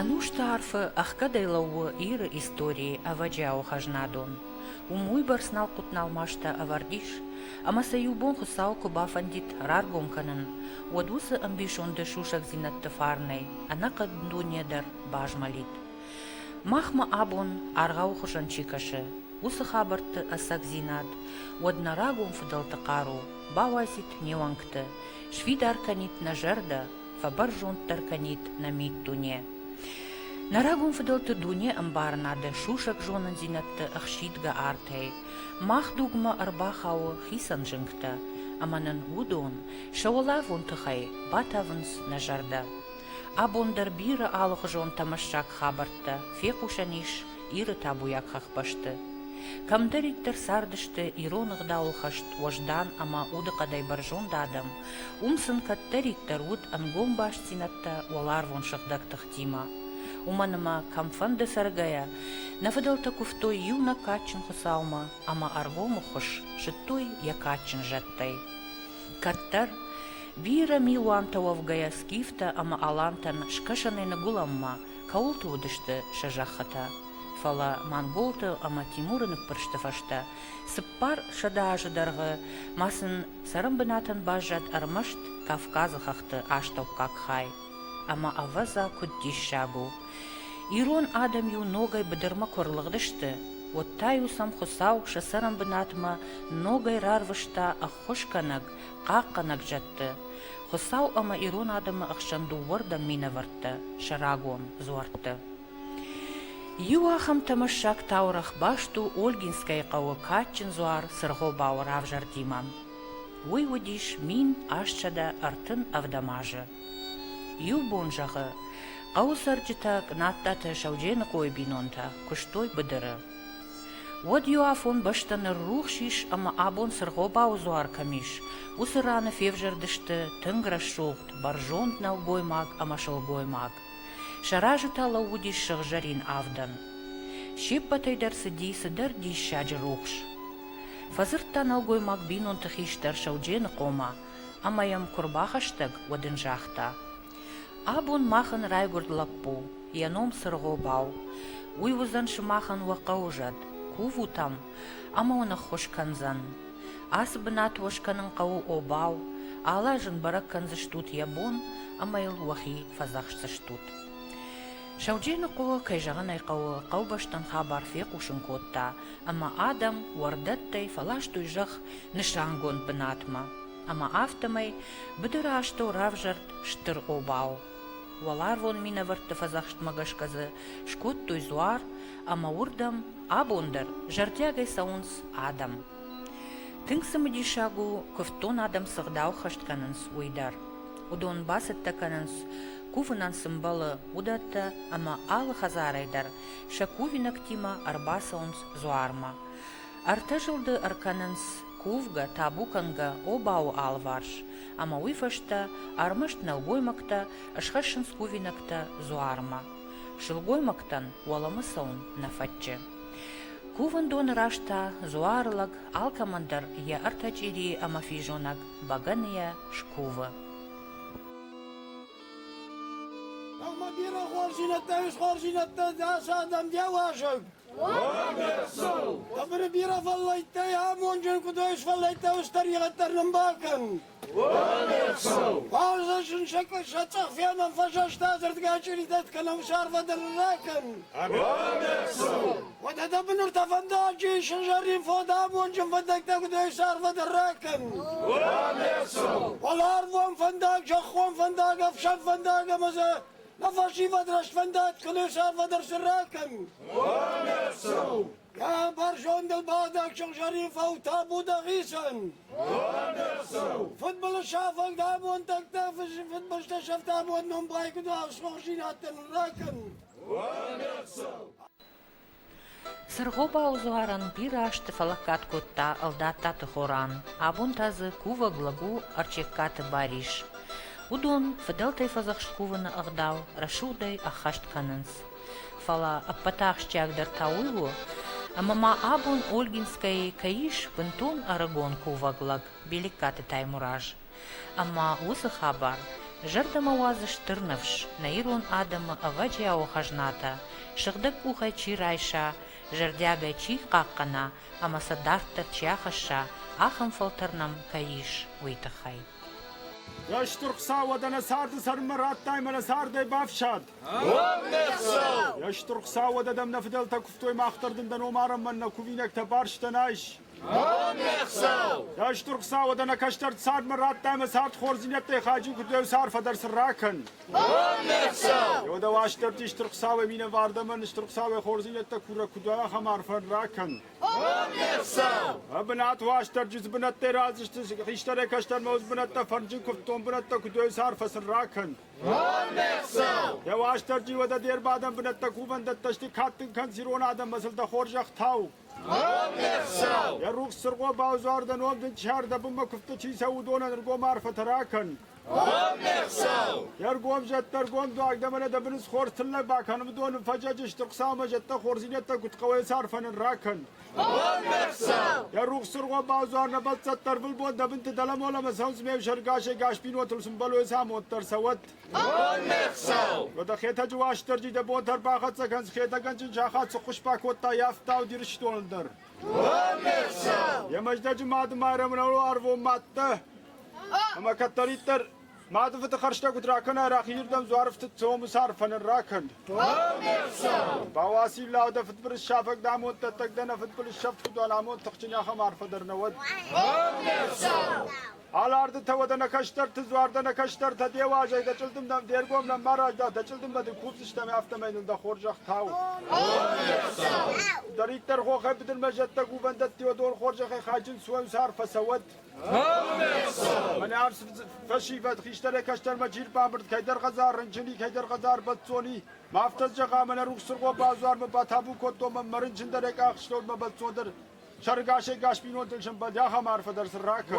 Ӕнусты арфы ӕхгӕдӕй лӕууы Иры историйы ӕвӕджиауы хӕзнадон. Уым уыйбӕрц налхъуыт-налмастӕ ӕвӕрд ис, ӕмӕ сӕ иу бон Хуыцау куы бафӕндид раргом кӕнын, уӕд уыцы ӕмбисонды сусӕгдзинӕдты фарнӕй ӕнӕхъӕн дуне дӕр базмӕлид. Махмӕ абон аргъауы хуызӕн чи кӕсы, уыцы хабӕртты ӕцӕгдзинад, уӕд нӕ рагон фыдӕлты хъару бауайдзид не уӕнгты, сфидар кӕнид нӕ зӕрдӕ фӕбӕрзонддӕр кӕнид нӕ миддуне. Нӕ рагон фыдӕлты дуне ӕмбарынады, сусӕг зонындзинӕдты ӕхсидгӕ артӕй мах дугмӕ ӕрбахауы хицӕн зынгтӕ, ӕмӕ нын уыдон сӕ уӕлӕвон тыхӕй батавынц нӕ зӕрдӕ. Абон дӕр бирӕ алыхуызон тӕмӕссаг хабӕрттӕ фехъусӕн ис Иры табуйаг хӕхбӕсты. Кӕмдӕриддӕр цардысты ирон ӕгъдауыл хӕст уӕздан ӕмӕ удыхъӕдӕй бӕрзонд адӕм, Уым сын кӕддӕриддӕр уыд ӕнгом бастдзинӕдтӕ уӕларвон сыгъдӕг тыхтимӕ. Уымӕн ӕмӕ, кӕмфӕнды цӕргӕйӕ, нӕ фыдӕлтӕ куывтой иу нӕ кадджын Хуыцаумӕ ӕмӕ ӕргомы хуыз зыдтой йӕ кадджын зӕдтӕй. Кӕддӕр, бирӕ милуантӕ уӕвгӕйӕ скифтӕ ӕмӕ алантӕн скӕсӕнӕй ныгуылӕнмӕ кӕуылты уыдысты сӕ зӕххытӕ. Фӕлӕ монголты ӕмӕ Тимуры ныппырсты фӕстӕ цыппар сӕдӕ азы дӕргъы ма сын Цӕрӕнбынатӕн баззад ӕрмӕст Кавказы хӕхты астӕуккаг хай, ӕмӕ, ӕвӕдза, куыд диссаг у! Ирон адӕм-иу ногӕй быдырмӕ куы ӕрлыгъдысты, уӕд та-иу сӕм Хуыцау сӕ цӕрӕнбынатмӕ ногӕй рарвыста ӕххуысгӕнӕг, хъахъхъӕнӕг зӕдты, Хуыцау ӕмӕ ирон адӕмы ӕхсӕн дыууӕрдӕм минӕвӕрттӕ, сӕ рагон дзуӕртты. Иу ахӕм тӕмӕссаг таурӕгъ баст у Ольгинскӕйы хъӕуы кадджын дзуар Цыргъобауы равзӕрдимӕ. Уый уыдис мин астсӕдӕ ӕртын ӕвдӕм азы. Иу бон зӕгъы, хъӕуы цӕрджытӕ Кънаттаты Сӕудженыхъойы бинонтӕ куыстой быдыры. Уӕд иу афон бӕстӕ ныррухс ис ӕмӕ абон Цыргъобауы дзуар кӕм ис, уыцы раны февзӕрдысты тынг рӕсугъд, бӕрзонд нӕлгоймаг ӕмӕ сылгоймаг. Сӕ разы та лӕууыдис сыгъзӕрин авдӕн. Се ппӕтӕй дӕр цыди цыдӕр диссаджы рухс. Фӕдзырдта нӕлгоймаг бинонты хистӕр Сӕудженыхъомӕ ӕмӕ йӕм куы рбахӕстӕг, уӕд ын загъта, Абон махӕн райгуырд лӕппу, йӕ ном Цыргъобау. Уый уыдзӕн сымахӕн уӕ хъӕуы зӕд, кувут ӕм ӕмӕ уын ӕххуыс кӕндзӕн. Ацы бынат уӕ скӕнын хъӕуы обау, алы аз ын бӕрӕг кӕндзыстут йӕ бон ӕмӕ йыл уӕхи фӕдзӕхсдзыстут. Саудженыхъо, кӕй зӕгъын ӕй хъӕуы, хъӕубӕстӕн хабар фехъусын кодта, ӕмӕ адӕм уӕрдӕттӕй фӕластой зӕхх нысангонд бынатмӕ, ӕмӕ афтӕмӕй быдыры астӕу равзӕрд стыр обау, Уӕларвон минӕвӕртты фӕдзӕхстмӕ гӕсгӕ дзы скодтой дзуар, ӕмӕ уырдӕм абон дӕр зӕрдиагӕй цӕуынц адӕм. Тынг цымыдисаг у, куывддон адӕм цы гъдау хӕст кӕнынц, уый дӕр. Уыдон бацӕттӕ кӕнынц, кувынӕн цы мбӕлы, уыдӕттӕ, ӕмӕ алы хӕдзарӕй дӕр сӕ кувинӕгтимӕ ӕрбацӕуынц дзуармӕ. Ӕртӕ зылды ӕркӕнынц кувгӕ, табу кӕнгӕ обауы алыварс, ӕмӕ уый фӕстӕ ӕрмӕст нӕлгоймӕгтӕ схӕссынц кувинӕгтӕ дзуармӕ. Сылгоймӕгтӕн уӕлӕмӕ цӕуын нӕ фӕтчы. Кувӕндоны раз та дзуары лӕг алкӕмӕн дӕр йӕ ӕртӕ чъирийы ӕмӕ физонӕг бӕгӕныйӕ скувы. Бирӕ хуарзинӕдтӕ ис, хуарзинӕдтӕ дӕс адӕм де уазӕг. Ӕмре бирӕ фӕллӕйттӕй амонджын куыд ой сфӕллӕйттӕ ус тӕригъӕддӕр нын бакӕн. Фарзасын сӕ цъӕх фенӕн фӕсӕста дзырдгӕ чыритӕт кӕнӕм сарвадыр ракӕн. Уӕдӕ дӕ быныр та фӕндаджы сызӕрин фод амонджын фӕндӕгтӕ куыд ой сарвадыр ракӕн. Уал арвон фӕндаг, зӕххон фӕндаг, ӕфсӕн фӕндаг ӕмӕ Нӕ фӕсивӕд расфӕндаг кӕнӕ сӕрвадӕр сырра кӕнут. Коммерцау! Кӕм бӕрзондыл бадӕг сыгъзӕрин фӕутӕ будагъисӕн. Коммерцау! Футболы сафӕг дамонтӕгтӕ фыдбылызтӕ сӕфтӕбон ном байкуыд асхохсинӕттӕн ракӕнут. Коммерцау! Сырхопау дзуарӕн бирӕ азты фӕлӕггад кодта Ӕлдаттаты Хоран, абон та дзы кувӕг лӕг у Ӕрчегкаты Барис. Уыдон фыдӕлтӕй фӕдзӕхст кувыны ӕгъдау рӕсугъдӕй ӕххӕст кӕнынц. Фӕлӕ ӕппӕт ахсджиагдӕр та уый у, ӕмӕ ма абон Ольгинскӕйы кӕй ис бынтон ӕрыгон кувӕг лӕг Белеккаты Таймураз. Ӕмӕ уыцы хабар зӕрдӕмӕ уадзы стыр ныфс, нӕ ирон адӕмы ӕвӕджиауы хӕзнатӕ, сыгъдӕг къухӕй чи райса, зӕрдиагӕй чи хъахъхъӕна ӕмӕ сӕ дарддӕр чи ахӕсса, ахӕм фӕлтӕр нӕм кӕй ис, уый тыххӕй. Йесты Хуыцауадӕн нӕ царды цӕрынмӕ радтай мӕ нӕ цардӕй бафсад! Йе стыр Хуыцауад адӕм нӕ фыдӕлтӕ куывтой, мах дӕр дын дӕ ном арӕнмӕ нӕ кувинӕгтӕ барстӕн айс! Дӕсдур Хуцауӕд ӕнӕ кӕстӕр цадмӕ радта ӕма цард хорздзийнӕдтӕй хаджи куддӕй сарфӕ дӕр сын ракӕн. Еу дӕ уастӕрти Стур Хуцауӕ минӕвардӕмӕн Стур Хуцауӕй хорздзийнӕдтӕ курӕ куд ахӕм арфӕн ракӕн. Ӕ бунат уастӕрджи дзубунӕттӕй раздзисти хистӕрӕй кӕстӕрмӕ уз бунӕттӕ фӕрнджи кувддон бунӕттӕ куддӕй сарфӕ сын ракӕн. Дӕ уастӕрджи уӕдӕ де рбадӕн бунӕттӕ кувӕндӕттӕ сти кадтин кӕн зирон адӕммӕ сыл дӕ хорзӕх тау. Йӕ рухс цыргъо бавзардӕн онг дын сӕрдӕбынмӕ куывдты чи цӕуы, уыдонӕн ӕргом арфӕтӕ ракӕн. Йе ргом зӕдтӕ ӕргом дуаг дӕ мӕнӕ дӕ быныс хорз тыллӕг бакӕн, уыдон ын фӕзӕджы стыр Хуыцаумӕ зӕдтӕ хорзинӕдтӕ куыд хъӕуы цы арфӕ нын ракӕн. Йӕ рухс цыргъо бавзар нӕ бӕлццӕттӕ ӕрвылбон дӕ бынты дӕлӕмолӕмӕ цӕудз ме взӕргасӕй гасбинонтыл сымбӕлой цы амонд дӕр цӕуӕд. Аннӕхсӕв! Къодахетӕджы Уастырджи дӕ бон дӕр бахӕццӕ кӕнс Хетӕгӕнджын сахат цы хъуыспӕ кодта йӕ ӕфтауд Ирыстоны дӕр. Аннӕхсӕв! Йӕ мӕздӕджы Мады Майрӕмрӕныл арвон мӕттӕ. Ӕмӕ кӕддӕриддӕр мады фыды хӕрзтӕ куыд ракӕнай, рахизырдӕм дзуарфтыд цомус арфӕ ныр ракӕн. Аннӕхсӕв! Бауасиллау дӕ фыдбылыз сафӕг дӕ амонд дӕттӕг дӕ нӕ фыдбылыз сӕфт куыд уа, амонд тыхджын ахӕм арфӕ дӕр нӕ уӕд. Аннӕхсӕв! Алардытӕ уӕдӕ нӕ кӕстӕрты дзуар дӕ нӕ кӕстӕртӕ де уӕзӕй дӕ чъылдым дӕм де ргом нӕ ма рӕзда, дӕ чъылдыммӕ дын кусдзыстӕм, афтӕмӕй нын дӕ хорзӕх тау. Дӕриддӕр хохӕй быдырмӕ зӕдтӕ кувӕндӕтти уӕ дон хорзӕхӕй хайджын суӕнс арф фӕцӕуӕд. Мӕнӕ арс фӕсивӕд хистӕрӕй кӕстӕрмӕ джир бамбырд кӕйдӕр хӕдзар рынчыни, кӕйдӕр хӕдзар бӕццони. Ма афтӕ зӕгъа, мӕнӕ рухс цыргъо базуармӕ батабу кодтон, мӕ рынчындӕрӕй къахстон мӕ бӕццондӕр. Сӕргӕсӕггас бинонтӕн сӕмбӕлд ахӕм арфӕ дӕр сын ракӕн.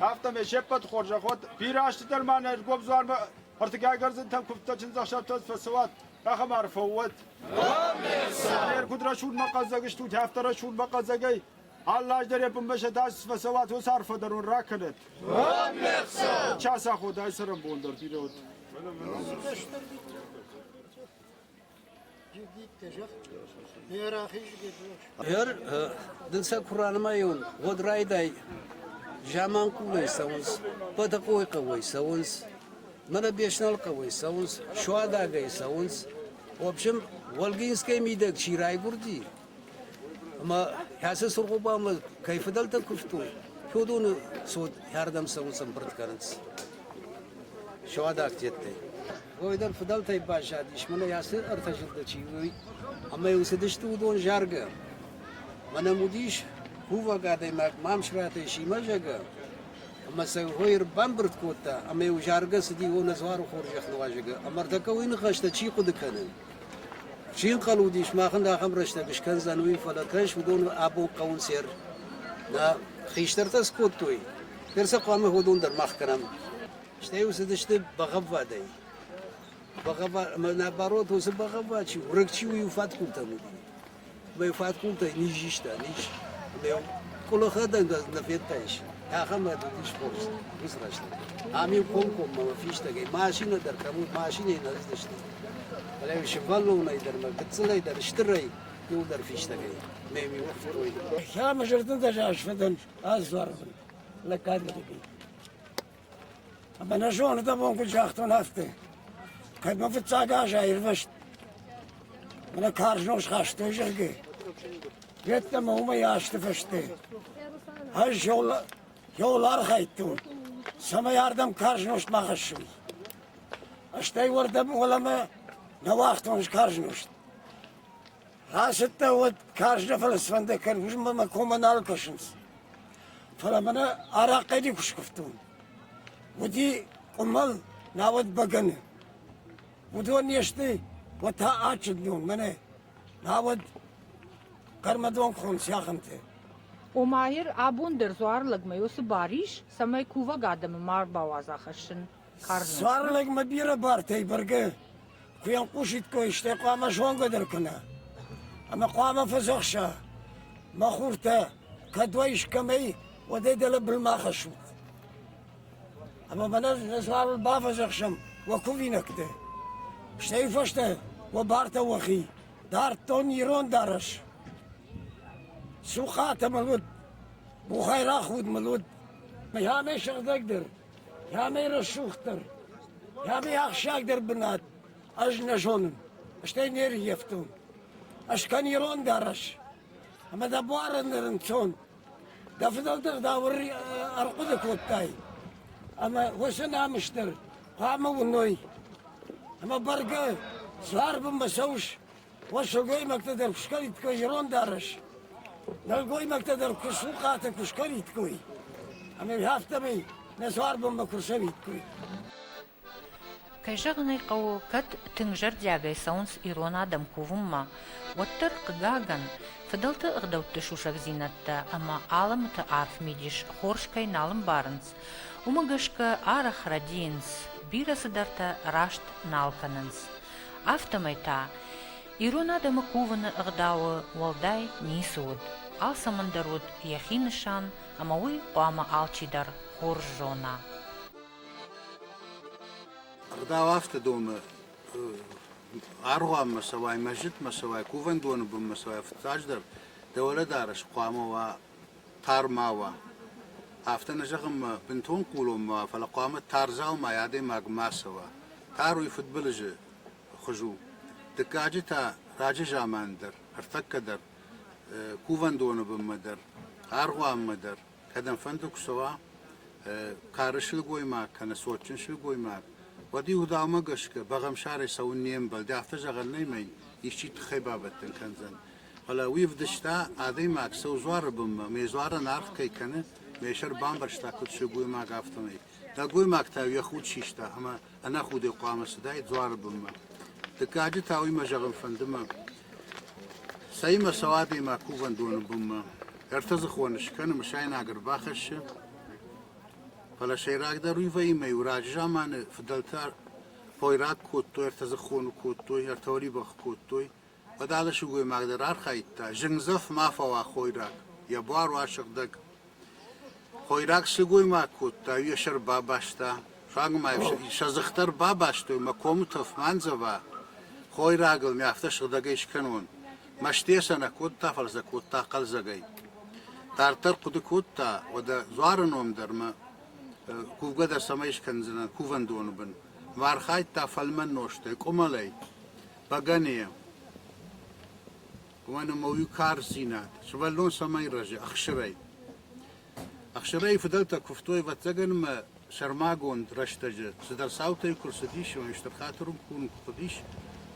Афтӕмӕй се ппӕт хорзӕх уӕд, бирӕстӕдӕр ма нӕ ӕргом дзуармӕ ӕртыгай гӕрзынтӕм куывдтӕ чындзӕхсӕвтӕ фӕцӕуат, ахӕм арфӕ уӕд. Не ргуыд рӕсугъдмӕ хъӕддзаг стут, афтӕ рӕсугъдмӕ хъӕддзагӕй ӕллаздӕр йӕ бынмӕ сӕ дас фӕцӕуат, уыцы арфӕ дӕр уын ракӕнӕд. Час аходы ай цӕрӕнбон дӕр бирӕ уыд. Ӕр, дын сӕ куы ранымайон, уӕд райдай. Заманхъулӕй цӕуынц, Бӕтӕхъойы хъӕуӕй цӕуынц, Мӕнӕбесналы хъӕуӕй цӕуынц, Суадагӕй цӕуынц. В общем, Волгинскӕй мидӕг чи райгуырди, Ӕмӕ кӕцы Цыргъобамӕ кӕй фыдӕлтӕ куывтой, Федоны цот хӕрдӕм цӕуынц ӕмбырд кӕнынц суадаг теттӕй. Ой дӕр фыдӕлтӕй баззадис, мӕнӕ ацы ӕртӕ зылды чи уый, ӕмӕ йыл цыдысты уыдон заргӕ. Мӕнӕм уыдис кувӕг адӕймаг Мамсыратӕй Симӕзӕгӕ, ӕмӕ сӕ хой ӕрбамбырд кодта, ӕмӕ йыл заргӕ цыди, о, нӕ дзуары хорзӕх нуазӕгы, ӕмӕ ӕртӕккӕ уый ныхӕстӕ чи хъуыды кӕны, Чи ӕнхъӕл уыдис, махӕн ахӕм рӕстӕг скӕндзӕн, уый, фӕлӕ, кӕс, уыдон абон хъӕуынц ӕр. Нӕ хистӕртӕ скодтой, ныр сӕ хъуамӕ уыдон дӕр мах кӕнӕм. Стӕй уцыдысты бӕгъӕввадӕй. Бӕгъӕввад, ӕмӕ наоборот, уыцы бӕгъӕввад чи, у, рыг чи у, иу фӕткъуылтӕн уыди. Мӕ фӕткъултӕй низзиста, низ. Ме къулахадӕнгӕ нӕ федтаис, ахӕм ӕд уыдис хорз уыцы рӕстӕг. Ам-иу комкоммӕ мӕ фистӕгӕй машинӕ дӕр кӕм уыд, машинӕйы нӕ рыздысти. Фӕлӕ-иу сывӕллонӕй дӕр мӕ гыццылӕй дӕр стырӕй иууылдӕр фистӕгӕй нӕм иуӕхсӕрой уыд. Ӕмӕ зӕрдӕдзӕст фӕдӕн ӕз дзуарбын лӕггад лӕгӕй. Ӕмӕ нӕ зоны дӕ бон куыд загътон, афтӕ. Кӕд мӕ фыццаг аз аирвӕзт, мӕ карз ном схастой, зӕгъгӕ, йеддӕмӕ уымӕй азты фӕстӕ ӕз йыл, йыл архайдтон, цӕмӕй ардӕм карз нозт ма хӕссой. Стӕй уӕрдӕм уӕлӕмӕ нӕ уагътон карз нозт. Ацыдтӕн уӕд каждый фӕлӕ сфӕндӕгӕн уызмӕ мӕ коммӕ нал кӕсынц. Фӕлӕ мӕнӕ арахъхъӕди куы скуывтон. Уыди къуымӕл, науӕд бӕгӕны. Уыдон не сты, уӕд та адджындон мӕнӕ, науӕд хъӕрмӕдонхон сиахынты. Омаир, абон дӕр дзуар лӕгмӕ йо цы бар ис, цӕмӕй кувӕг адӕмы ма ӕрбауадза хӕссын? Сарлӕгмӕ бирӕ бартӕй бӕргӕ куы ӕнхъусиккой, стӕй хъуамӕ зонгӕ дӕр кӕна. Ӕмӕ хъуамӕ фӕдзӕхса, мӕ хуртӕ, кӕд уӕ искӕмӕй, уӕдӕй дӕлӕ былмӕ хӕссут. Ӕмӕ мӕнӕ Сарл бафӕдзӕхсӕм уӕ кувинӕгты. Стӕй фӕстӕ уӕ бартӕ уӕхи, дардтон ирон дарӕс. Сухъат мыл уыд, бухайраг худ мыл уыд, мӕ амӕй сыгъдӕгдӕр, Йӕхи рӕсугъддӕр, йӕхи ахсджиагдӕр бынат ӕз нӕ зонын, стӕй не рййӕфтон. Ӕз кӕн ирон дарӕс, ӕмӕ дӕ буарӕн рынцон. Дӕ фыдӕлтӕ дӕ ӕрхъуыды кодтай, ӕмӕ уыцы намыс дӕр хъуамӕ уыной. Ӕмӕ бӕргӕ, суар бынмӕ цӕуыс, уӕ сылгоймӕгтӕ дӕр куы скӕнид-кой ирон дарӕс, нӕлгоймӕгтӕ дӕр куы сухъатӕ куы скӕнид-кой, ӕмӕ афтӕмӕй нӕ цуарбонмӕ куы рцӕуид-кой. Кӕй зӕгъын ӕй хъӕуы, кӕд тынг зӕрдиагӕй цӕуынц ирон адӕм кувынмӕ, уӕддӕр, хъыгагӕн, фыдӕлты ӕгъдӕутты сусӕгдзинӕдтӕ ӕмӕ алымыты арф мидис хорз кӕй нал ӕмбарынц, уымӕ гӕсгӕ арӕх рӕдийынц, бирӕ цыдӕртӕ раст нал кӕнынц. афтӕмӕй та ирон адӕмы кувыны ӕгъдауы уӕлдай ницы уыд, алцӕмӕн дӕр уыд йӕхи нысан ӕмӕ уый хъуамӕ алчидӕр хорз зона. Ӕгъдау афтӕ домы аргъуанмӕ цӕуай, мӕсджытмӕ цӕуай, кувӕндоны бынмӕ цӕуай, фыццаджыдӕр дӕ уӕлӕдарӕс хъуамӕ уа тар ма уа. Афтӕ нӕ зӕгъынмӕ бынтон хъулон ма уа, фӕлӕ хъуамӕ тар дзаумай адӕймаг ма цӕуа. Тар уый фыдбылызы хуыз у. Дыккаджы та раджы заманы дӕр, ӕртӕккӕ дӕр, кувӕндоны бынмӕ дӕр, аргъуанмӕ дӕр, кӕдӕмфӕнды куы цӕуа кары сылгоймаг кӕнӕ цотджын сылгоймаг, уӕд иудаумӕ гӕсгӕ бӕгъӕмсарӕй цӕуын не мбӕлд. Афтӕ зӕгъӕн нӕй мӕ йын исчи тыххӕй бабӕттӕн кӕндзӕн. фӕлӕ уый ӕвдыста, адӕймаг сӕу дзуары бынмӕ ме дзуарӕн аргъ кӕй кӕны, ме сӕр бамбӕрста куыд сылгоймаг, афтӕмӕй. Нӕлгоймаг та йӕ худ систа ӕмӕ ӕнӕхудӕй хъуамӕ цыдаид дзуары бынмӕ. Дыккаджы та уый мӕ зӕгъын фӕнды мӕ, цӕимӕ цӕуы адӕймаг кувӕндоны бынмӕ. Ӕртӕдзыхоны скӕны, мысайнаг ӕрбахӕссы, фӕлӕ сӕйрагдӕр уый вӕййы, иу раджы заманы фыдӕлтӕ хойраг кодтой, ӕртӕдзыхоны кодтой, ӕртӕуӕлибӕх кодтой, Бадалы сылгоймаг дӕр архайдта, зынгдзӕф ма фӕуа хойраг, йӕ буар уа сыгъдӕг. Хойраг сылгоймаг кодта, йӕ сӕр бабаста. Фаг ма сӕ дзых дӕр бабастой мӕ комы тӕф ма ндзӕва. Хойрагыл ми афтӕ сыгъдӕгӕй скӕнон. Мӕстыйӕ сӕ нӕ кодта, фӕлӕ сӕ кодта хъӕлдзӕгӕй. Дарддӕр хъуыды кодта, уӕдӕ дзуары ном дӕр мӕ кувгӕ дӕр цӕмӕй скӕндзынӕн кувӕндоны бын. Ма архайдта фӕлмӕн нозтӕй, къуымӕлӕй. Бӕгӕныйӕ. Уымӕн ӕмӕ уый карздзинад, сывӕллон цӕмӕй рӕзы ӕхсырӕй. Ӕхсырӕй фыдӕлтӕ куывтой ӕвӕццӕгӕн ӕмӕ сӕрмагонд рӕстӕджы цыдӕр цаутӕй куы рцыдис, ӕмӕ стыр хатыры курын куы хъуыдис,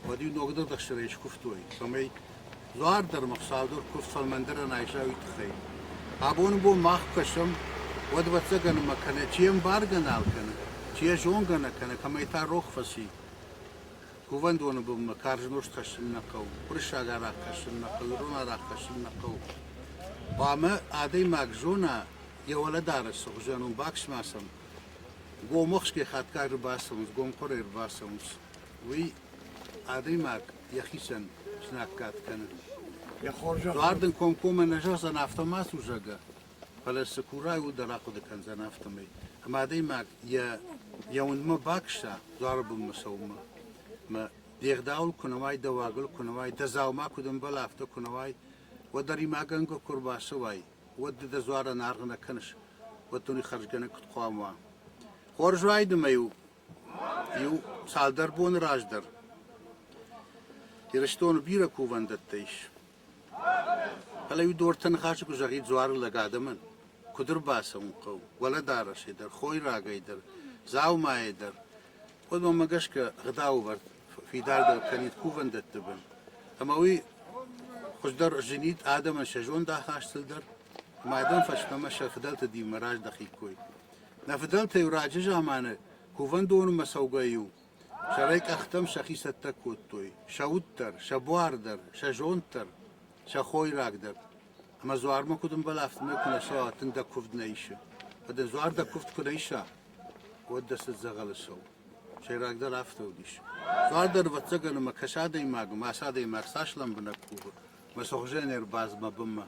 уӕд-иу ногдӕр ӕхсырӕй скуывтой. Цӕмӕй дзуар дӕр ӕмӕ хсау дӕр куыв фӕлмӕндӕрӕн айса, уый тыххӕй. Абоны бон мах кӕсӕм, уӕд ӕвӕццӕгӕн ӕмӕ кӕнӕ чи ӕмбаргӕ нал кӕны, чи йӕ зонгӕ нӕ кӕны, кӕмӕй та рох фӕци. кувӕндоны бынмӕ карз нозт хӕссын нӕ хъӕуы, уырыссаг арахъ хӕссын нӕ хъӕуы, ирон арахъ хӕссын нӕ хъӕуы. Хъуамӕ адӕймаг зона, йӕ уӕлӕдарӕс цы хуызӕн у, баксмасӕн, гомохсгӕ хатгай ӕрбацӕуынц, гомхъуырӕй ӕрбацӕуынц, уый адӕймаг йӕхицӕн знаггад кӕны. Дуар дын комкоммӕ нӕ зӕгъдзӕн, афтӕ ма цу, зӕгъгӕ, фӕлӕ цы курай, уый дӕр ахъуыды кӕндзӕн афтӕмӕй. Ӕмӕ адӕймаг йӕ йӕ уындмӕ бакӕса дзуары бынмӕ цӕуынмӕ. Ӕмӕ де гъдауыл куы нӕ уай, дӕ уагыл куы нӕ уай, дӕ дзаума куыд ӕмбӕла, афтӕ куы нӕ уай, уӕд ӕримагӕнгӕ куы ӕрбацӕуай, уӕд ды дӕ дзуарӕн аргъ нӕ кӕныс, уӕд дын уый хӕрзгӕнӕг куыд хъуамӕ уа. Хорз уайды ма иу, иу цалдӕр боны раздӕр Ирыстоны бирӕ кувӕндӕттӕ ис. Фӕлӕ-иу дортӕ ныхасы куы зӕгъид дзуары лӕг адӕмӕн, куыд ӕрбацӕуын хъӕуы, уӕлӕдарӕсӕй дӕр, хойрагӕй дӕр, дзаумайӕ дӕр, уӕд мӕнмӕ гӕсгӕ гъдаувӕрд фидардӕр кӕнид кувӕндӕтты бын, ӕмӕ уый хуыздӕр зынид адӕмӕн сӕ зондахастыл дӕр ӕмӕ адӕм фӕстӕмӕ сӕ фыдӕлты динмӕ раздӕхиккой. Нӕ фыдӕлтӕ-иу раджы заманы кувӕндоны мӕ цӕугӕ-иу Сӕрӕй къӕхтӕм сӕхи цӕттӕ кодтой, сӕ уд дӕр, сӕ буар дӕр, сӕ зонд дӕр, сӕ хойраг дӕр. Ӕмӕ дзуармӕ куыд ӕмбӕлы, афтӕмӕй куы нӕ цӕуа, тынг дӕ куывд нӕ исы. Фӕлӕ дын дзуар дӕ куывд куы нӕ иса, уӕд дӕ цыд дзӕгъӕлы цӕуы. Сӕйрагдӕр афтӕ уыдис. Дзуар дӕр, ӕвӕццӕгӕн, ӕмӕ кӕс адӕймагы, мӕс адӕймаг цас лӕмбынӕг кувы, мӕ сыгъуызӕн ӕрбадз мӕ бынмӕ.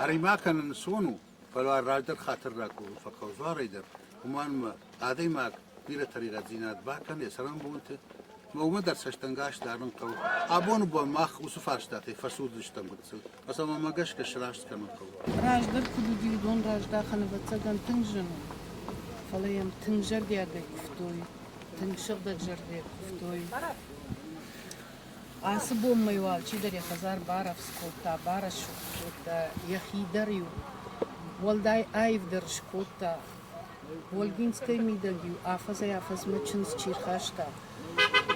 Ӕри-ма кӕнын, цы уон у? Фӕлӕ раздӕр хатыр ракурын фӕхъӕуы дзуарӕй дӕр, уымӕн ӕмӕ адӕймаг бирӕ тӕригъӕддзинад бакӕны йӕ цӕрӕнбонты, ӕмӕ уымӕ дӕр цӕстӕнгас дарын хъӕуы. Абоны бон мах уыцы фарстатӕй фӕцуддзыстӕм гыццыл, фӕлӕ мӕ гӕсгӕ сраст кӕнын хъӕуы. Раздӕр куыд уыди, уыдон раздахӕн, ӕвӕццӕгӕн, тынг зын у. Фӕлӕ йӕм тынг зӕрдиагӕй куывтой, тынг сыгъдӕгзӕрдӕйӕ куывтой. Ацы бонмӕ уал чидӕр йӕ хӕдзар барӕвдз кодта, барӕсугъд кодта, йӕхи дӕр-иу уӕлдай аивдӕр скодта. Ольгинскӕйы мидӕг-иу афӕдзӕй-афӕдзмӕ чындз чи рхаста,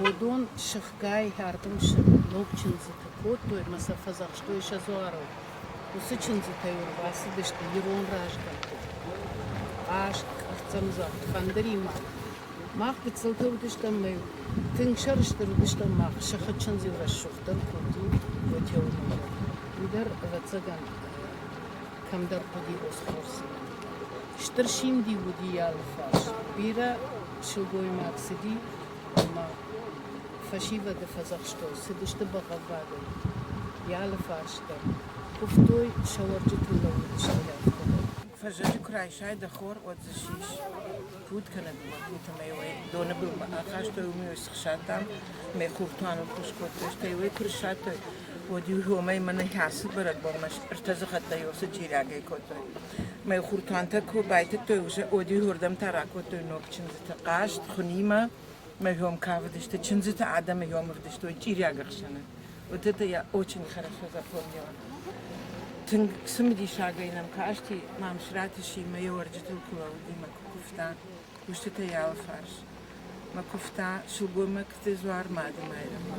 уыдон сыхгай ӕрдымсы ног чындзыты кодтой ӕмӕ сӕ фӕдзӕхстой сӕ дзуарыл. Уыцы чындзытӕ-иу ӕрбацыдысты ирон разгӕмтты. Аст, ӕртӕмдзӕгъд фӕндыримӕ Мах гыццылты уыдыстӕм, нӕ тынг сӕрыстыр уыдыстӕм, мах сыхы чындзы рӕсугъддӕр куыд у, Отӕуылмӕ. Уый дӕр, ӕвӕццӕгӕн, кӕмдӕр хъуыди Осхорсимӕ. Стыр симд-иу уыди йӕ алыфарс. Бирӕ сылгоймаг цыди ӕмӕ фӕсивӕды фӕдзӕхстой, цыдысты бӕгъӕввадӕй йӕ алыфарс дӕр. Куывтой, сӕ уӕрджытыл лӕууыдысты лӕгтӕ дӕр. Фӕзӕджы куы райсай дӕ хор, уӕд дзы сис пуд кӕнӕ бакут ӕмӕ уӕ доны былмӕ ахастой, уым иу схсадтам, мӕ хурту анылхъус кодтой, стӕй уый куы ссадтой, уӕд-иу уымӕй мӕнӕн кӕцыд бӕрӕгбонмӕ ӕртӕ дзыхӕттӕ уыцы чирӕгӕй кодтой. Мӕ хуртантӕ куы байтыдтой, уызӕ уӕд-иу уырдӕм та ракодтой ног чындзыты хъазт, хуынимӕ. мӕ ном кавыдысты, чындзыты адӕмы ном ӕвдыстой чъириаг ӕхсӕны. Вот это я очень хорошо запомнила. Тынг цымыдисагӕй нӕм касти, Мамсыраты Симӕ йӕ уӕрджытыл куы лӕууыди мӕ куы куывта кустытӕй алы фарс. Мӕ куывта, сылгоймӕгты дзуар Мады Майрӕмы.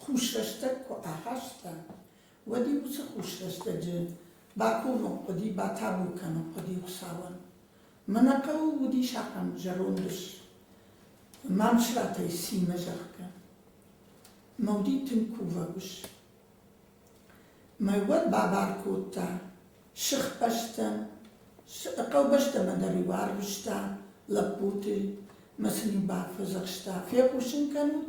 Хусрӕстӕг куы ахаста, уӕд-иу уыцы хусрӕстӕджы бакомын хъуыди, батабу кӕнын хъуыди Хуыцауӕн. Мӕнӕ хъӕуы уыдис ахӕм зӕронд ус, Мамсыратӕй Симӕ, зӕгъгӕ. Мӕ уыди тынг кувӕг ус. Мӕ уӕд бабар кодта сыхбӕстӕм, хъӕубӕстӕмӕ дӕр-иу арвыста лӕппуты, мӕ сын-иу бафӕдзӕхста, фехъусын кӕнут,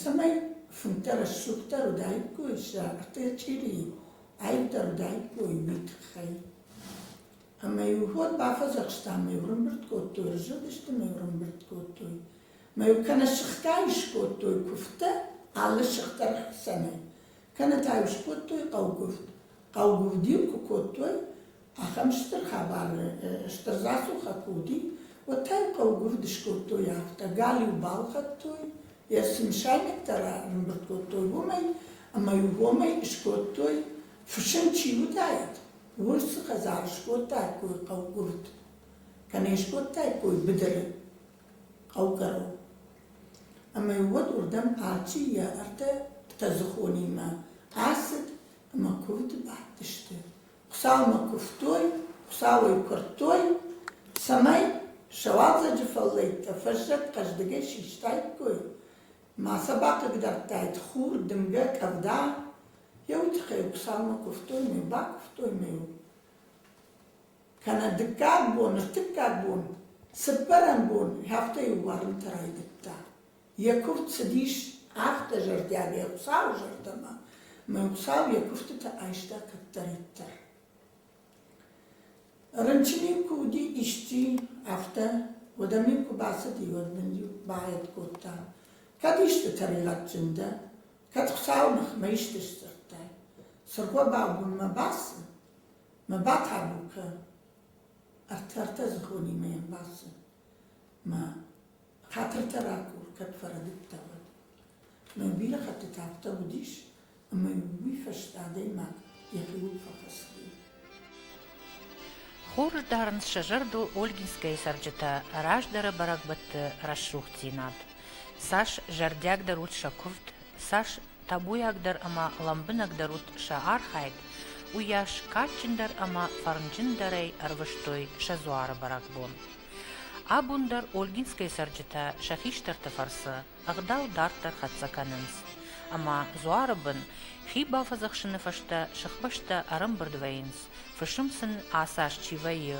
цӕмӕй фынтӕ рӕсугъддӕр уыдаиккой сӕ тъӕчъирийы аивдӕр уыдаиккой уый тыххӕй ӕмӕ-иу уӕд бафӕдзӕхстам ӕмӕ-иу рымбырд кодтой разылдысты ӕмӕ-иу рымбырд кодтой ӕмӕ-иу кӕнӕ сыхтӕй скодтой куывдтӕ алы сыхт дӕр хсӕнӕй кӕнӕ та-иу скодтой хъӕугуывд хъӕугуывд-иу куы кодтой Ахӕм стыр хабары стыр рацухӕ куы уыди, уӕд та-иу хъӕугуывд скодтой афтӕ, галиу балхӕдтой, йӕ цы мысайнӕгтӕ ранӕмбырд кодтой, уымӕй, ӕмӕ-иу уымӕй скодтой, фысым чи уыдаид, урс цы хӕдзар скодтаиккой хъӕугуывд, кӕнӕ скодтаиккой быдыры хъӕукӕрон. Ӕмӕ уӕд уырдӕм алчи йӕ ӕртӕ тӕдзыхонимӕ ацыд ӕмӕ куывд бадтысты. Хуыцаумӕ куывтой, Хуыцауӕй куырдтой, цӕмӕй сӕ уалдзӕджы фӕллӕйттӕ фӕззӕг хъӕздыгӕй систаиккой ма сӕ бахъыгдардтаид хур, дымгӕ, къӕвда. Йӕ уый тыххӕй Хуыцаумӕ куывтой ма йыл бакуывтой ма йыл. Кӕнӕ дыккаг бон, ӕртыккаг бон, цыппӕрӕм бон, афтӕ иу уарынтӕ райдыдта. Йӕ куывд цыдис афтӕ зӕрдиагӕй Хуыцауы зӕрдӕмӕ, мӕ Хуыцау йӕ куывдтыты айста кӕддӕриддӕр. Рынчын-иу куы уыди исчи, афтӕ, уӕдӕм-иу куы бацыди, уӕд мын-иу баӕтт кодта, кӕд исты тӕригъӕдджын дӕ, кӕд Хуыцауы ныхмӕ исты сдзырдтай, цыргъуӕбау дын мӕ басы, мӕ батабу кӕ, ӕртӕ-ӕртӕ дзыхонимӕ йӕм басы, мӕ Хатыртӕ ракур, кӕд фӕрӕдыдтӕ, уӕд. Мӕ бирӕ хӕттыты афтӕ уыдис, ӕмӕ уый фӕстӕ адӕймаг йӕхи уд фӕфӕсыди. Хур дарынц сӕ зӕрдыл Ольгинскӕйы цӕрджытӕ раздӕры бӕрӕгбӕтты рӕсугъддзинад. Цас зӕрдиагдӕр ут сӕ куывд, цас табуйагдӕр ӕмӕ лӕмбынӕгдӕр ут сӕ архайд, уыйас кадджындӕр ӕмӕ фӕрнджындӕрӕй ӕрвыстой сӕ дзуары бӕрӕгбон. Абон дӕр Ольгинскӕйы цӕрджытӕ сӕ хистӕрты фӕрцы ӕгъдау дарддӕр хӕццӕ кӕнынц, ӕмӕ дзуары бын хи бафӕдзӕхсыны фӕстӕ сыхбӕстӕ ӕрӕмбырд вӕййынц, фысым сын ацы аз чи вӕййы,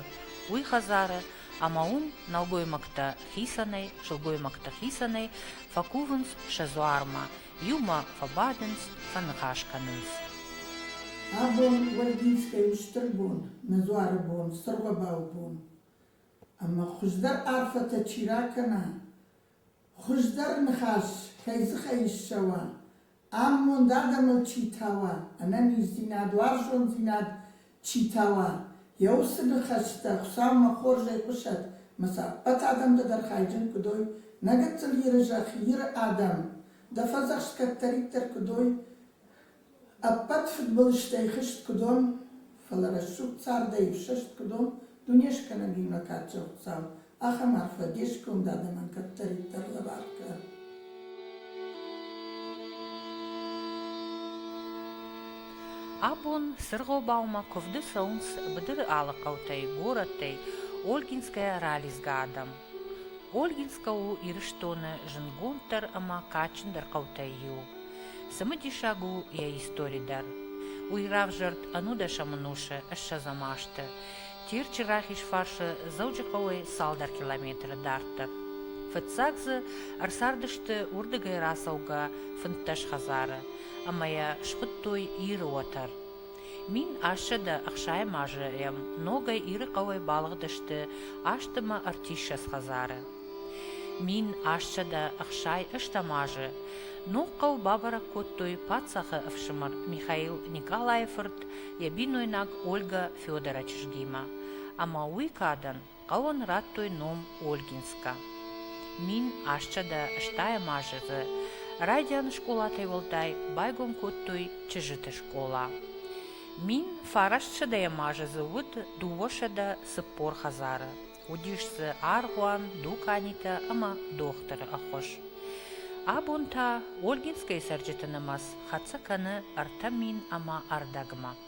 уый хӕдзары, ӕмӕ уым нӕлгоймӕгтӕ хицӕнӕй, сылгоймӕгтӕ хицӕнӕй фӕкувынц сӕ дзуармӕ, иумӕ фӕбадынц, фӕныхас кӕнынц. Абон Ольгинскӕйы стыр бон, нӕ дзуары бон, стыр уӕбӕл бон. Ӕмӕ хуыздӕр арфӕтӕ чи ракӕна, хуыздӕр ныхас кӕй дзыхӕй ссӕуа, амонд адӕмыл чи тауа, ӕнӕниздзинад, уарзондзинад чи тауа, йӕ уыцы ныхӕстӕ Хуыцаумӕ хорзӕй хъуысӕт ӕмӕ сӕ ӕппӕт адӕмтӕ дӕр хайджын куы уой, нӕ гыццыл Иры зӕхх, Иры адӕм, дӕ фӕдзӕхст кӕддӕриддӕр куыд уой, Ӕппӕт фыдбылызтӕй хызт куы дон, фӕлӕ рӕсугъд цардӕй ӕфсӕст куы дон, дунескӕнӕгимӕ кадзӕхцау, ахӕм арфӕ де сгонд адӕмӕн кӕддӕриддӕр лӕвар кӕ. Абон сӕргъобаумӕ куывды цӕуынц быдыры алы хъӕутӕй, горӕттӕй Ольгинскӕйӕ ралидзгӕ адӕм. Ольгинскӕ у Ирыстоны зындгонддӕр ӕмӕ кадджындӕр хъӕутӕй иу. Цымыдисаг у йӕ истори дӕр. Уый равзӕрд ӕнудӕсӕмон усы ссӕдзӕм азты. Терчы рахиз фарсы Дзӕуджыхъӕуӕй цалдӕр километры дарддӕр. Фыццаг дзы ӕрцардысты уырдыгӕй рацӕугӕ фынддӕс хӕдзары ӕмӕ йӕ схуыдтой Иры уӕтӕр. Мин ӕссӕдӕ ӕхсӕйӕм азӕм ногӕй Иры хъӕуӕй балыгъдысты азтымы ӕртиссӕдз хӕдзары. Мин ӕссӕдӕ ӕхсӕйӕстӕм азы ног хъӕу бабӕрӕг кодтой паддзахы ӕфсымӕр Михаил Николайы фырт, йӕ бинойнаг Ольгӕ Федора чызгимӕ, ӕмӕ уый кадӕн Хъӕуӕн радтой ном Ольгинскка. Мин асчъадӕ стайӕм азы дзы райдианы скъолатӕй уӕлдай байгом кодтой чызджыты скъола. Мин фарастсӕдӕйӕм азы дзы уыд дыууӕсӕдӕ цыппор хӕдзары. Уыдис дзы аргъуан, дуканитӕ ӕмӕ дохтыры ӕххуыс. Абон та Ольгинскӕйы цӕрджыты нымӕц хӕццӕ кӕны ӕртӕ мин ӕмӕ ӕрдӕгмӕ.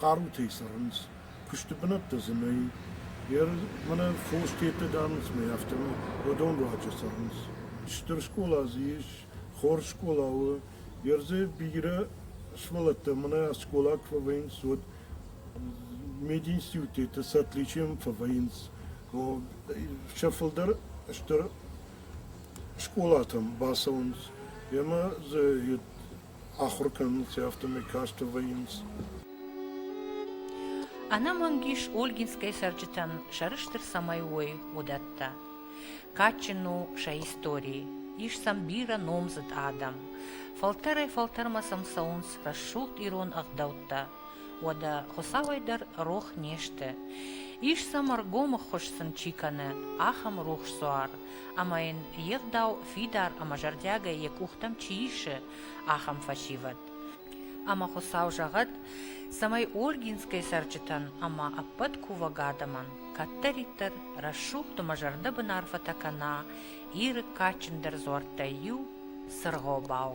хъарутӕй цӕрынц, куысты бынӕттӕ дзы нӕй. Ӕрмӕн фос тедтӕ дарынцмӕ, афтӕмӕй уыдон руаджы цӕрынц. Стыр скъола дзы ис, хорз скъола у. Ердзе бирӕ сывӕллӕттӕ мӕнӕ скъола куы фӕвӕййынц, уӕд мединституты сӕ отличием фӕвӕййынц. Сӕ фылдӕр стыр скъолатӕм бацӕуынц ӕмӕ дзы Ахуыр кӕнынц, афтӕ мӕ касты вӕййынц. Ӕнӕмӕнг ис Ольгинскӕй цӕрджытӕн сӕрыстыр цӕмӕй уой, уыдӕттӕ. Кадджын у сӕ истори, ис сӕм бирӕ номдзыд адӕм. Фӕлтӕрӕй-фӕлтӕрмӕ сӕм цӕуынц рӕсугъд ирон ӕгъдӕуттӕ. Уӕдӕ Хуыцауӕй дӕр рох не сты? Ис сӕм ӕргом ӕххуыс сын чи кӕны, ахӕм рухс дзуар. ӕмӕ йын йе гъдау фидар ӕмӕ зӕрдиагӕй йӕ къухтӕм чи исы, ахӕм фӕсивӕд. Ӕмӕ Хуыцау зӕгъӕд, цӕмӕй Ольгинскӕйы цӕрджытӕн ӕмӕ ӕппӕт кувӕг адӕмӕн кӕддӕриддӕр рӕсугъд ӕмӕ зӕрдӕбын арфӕтӕ кӕна Иры кадджындӕр дзуӕрттӕй иу, Цыргъобау.